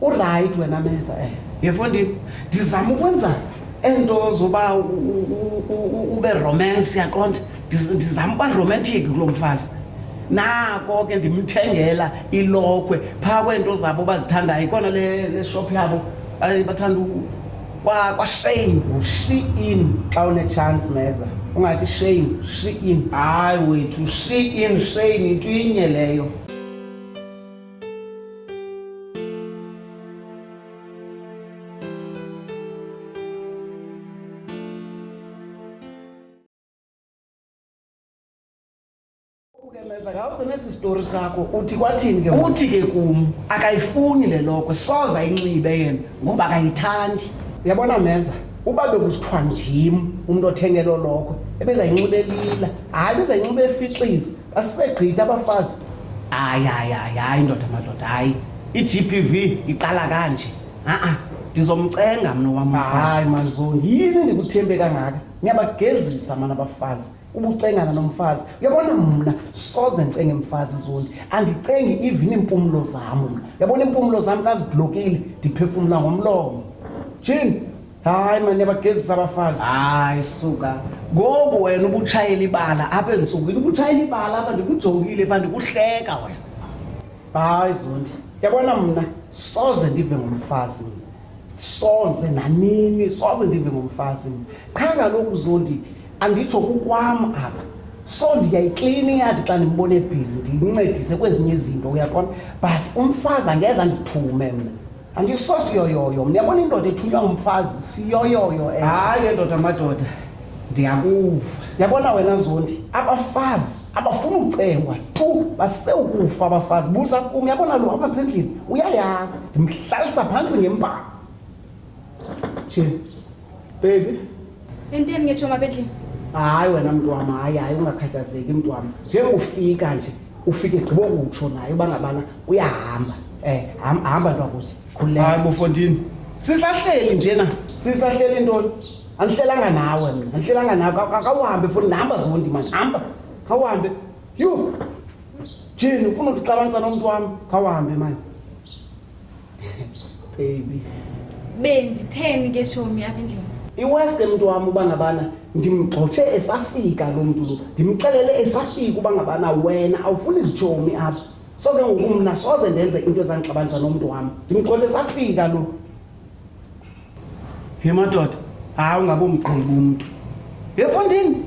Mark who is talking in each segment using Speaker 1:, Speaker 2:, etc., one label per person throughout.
Speaker 1: urayithi wena menza eh. yefondini ndizama ukwenza ento zoba ube romance yaqonda ndizama uba romantic kulo mfazi nako ke ndimthengela ilokhwe phaa kweento zabo bazithandayo ikona le shop yabo bathanda kwashame ushi in xa unetshansi meza ungathi shame shi in hayi wethu shi in shame into inye leyo Meza ngawuse nesi story sakho uthi kwathini ke uthi ke kum akayifuni le loko soza inxibe yena ngoba akayithandi uyabona meza uba bekusithiwa ndim umntu othengelo loko ebezayinxibe lila hayi bezayinxibe efixiza Basisegqitha abafazi. Hayi hayi hayi hayi ndoda madoda hayi. I-GPV iqala kanje. Ha-a ndizomcenga mna wam umfazi. Hayi manzondi yini ndikuthembe kangaka? Ngiyabagezisa mana abafazi. Ubucengana nomfazi. Uyabona mna soze ndicenge mfazi zondi. Andicengi even iimpumlo zam mna. Uyabona iimpumlo zam kaziblokile ndiphefumla ngomlomo. Jin hayi mani abagezisa abafazi hayi suka ngoku wena ubutshayela ibala apha entsukwini ubutshayela ibala apha ndikujongile pha ndikuhleka wena hayi zonti yabona mna soze ndive ngomfazi mna soze nanini soze ndive ngomfazi mna qha kaloku zonti anditsho kukwam apha so ndiyayiklina iyadi xa ndimbona ebhizi ndiyincedise kwezinye izinto uyaqona but umfazi angeza ndithume mna andisosiyoyoyo ndiyabona indoda ethunywa ngumfazi siyoyoyo eso hayi endoda amadoda ndiyakuva yabona wena zondi abafazi abafuna ucengwa tu basewukufa abafazi buza kum yabona lo apha phendlini uyayazi ndimhlalisa phantsi ngembanga nje Baby. Yinteni
Speaker 2: ngechoma bedlini? Hayi wena mntu
Speaker 1: wam, hayi hayi ungakhathazeki mntu wam. Njengofika nje, ufike gqibo kutsho naye uba ngabana uyahamba. Eh, ham- hamba ntwakuthi. Khululeka. Hayi bofondini. Sisahleli njena. Sisahleli ntoni? Andihlelanga nawe mna. Andihlelanga nawe. Ka- ka- Kawuhambe futhi nihamba zondi mani. Hamba. Kawuhambe. Yho. Jini ufuna ukuxabanisa nomntu wam. Kawuhambe mani. baby benditheni
Speaker 2: ke tshomi apha endlini iwesi ke mntu wam
Speaker 1: uba ngabana ndimgxotshe esafika loo mntu lo ndimxelele esafika uba ngabana wena awufuni izitshomi apha so ke ngoku mna soze ndenze into ezandixabanisa nomntu wam ndimgxotshe esafika lo He madoda, hayi ungabomqondi bomntu. Yefondini.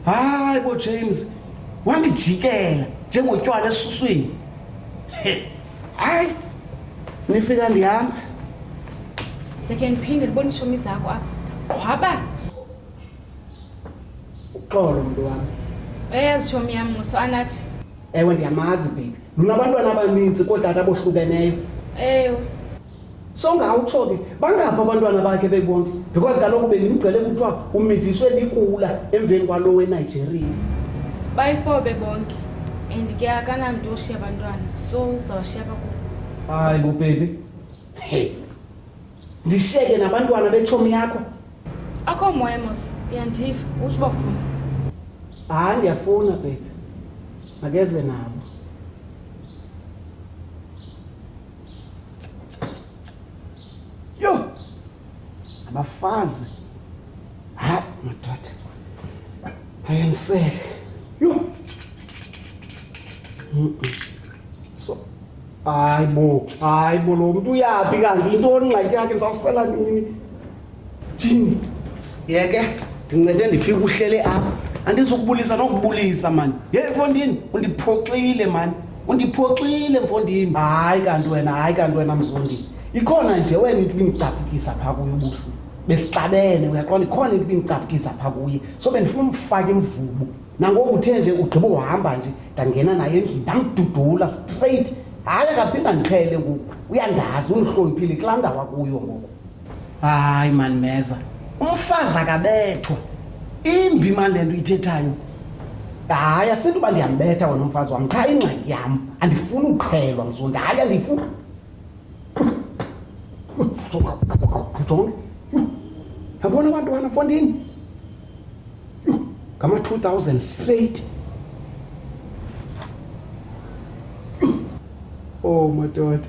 Speaker 1: Hayi bo James, wandijikela njengotywala esuswini. Hayi. Nifika ndihamba.
Speaker 2: Seke ndiphinde ndibone ishomi zakho apha. Qhwaba.
Speaker 1: Uxolo mntu wami. Eyazi shomi
Speaker 2: yam muso anathi. Ewe ndiyamazi
Speaker 1: baby. Lunabantwana abaninzi kootata abohlukeneyo. Ewe. songawutsho ke bangaphi abantwana bakhe bebonke because kaloku bendimgcele kuthiwa umidiswe likula emveni kwalo wenigeria bayifo
Speaker 2: bebonke and ke akanamntu oshiya abantwana so uzawushiya bakubo hayi bubhebi
Speaker 1: hey ndishiyeke nabantwana betshomi yakho akho moya
Speaker 2: mos uyandiva utsho uba funa hayi
Speaker 1: ndiyafuna bhebi makeze nabo abafazi hayi madoda ayensele yho so hayi bo hayi bo lo mntu uyaphi kanti yintoni ingxaki yakhe ndizawusela nini Jimmy, yeke ndincede ndifike uhlele apha. Andizukubulisa nokubulisa mani. Ye mfondini, undiphoxile mani. Undiphoxile mfondini. Hayi kanti wena, hayi kanti wena mzondini. Ikhona nje wena into ibingicaphukisa phaa kuye ubusi. Besixabene uyaqonda ikhona into ibingicaphukisa phaa kuye. So bendifuna umfake imvubu. Nangoku uthe nje ugqiba uhamba nje ndangena naye endlini ndamdudula straight. Hayi akaphinda ndiqhele ngoku. Uyandazi undihloniphile kulaa ndawo akuyo ngoku. hayi mani meza umfazi akabethwa imbi mani le nto uyithethayo hayi asinto uba ndiyambetha wena umfazi wam qha ingxaki yam andifuni uqhelwa mzondi hayi andifuni jonge yabona abantwana fondini ngama-two thousand straight Oh, my God.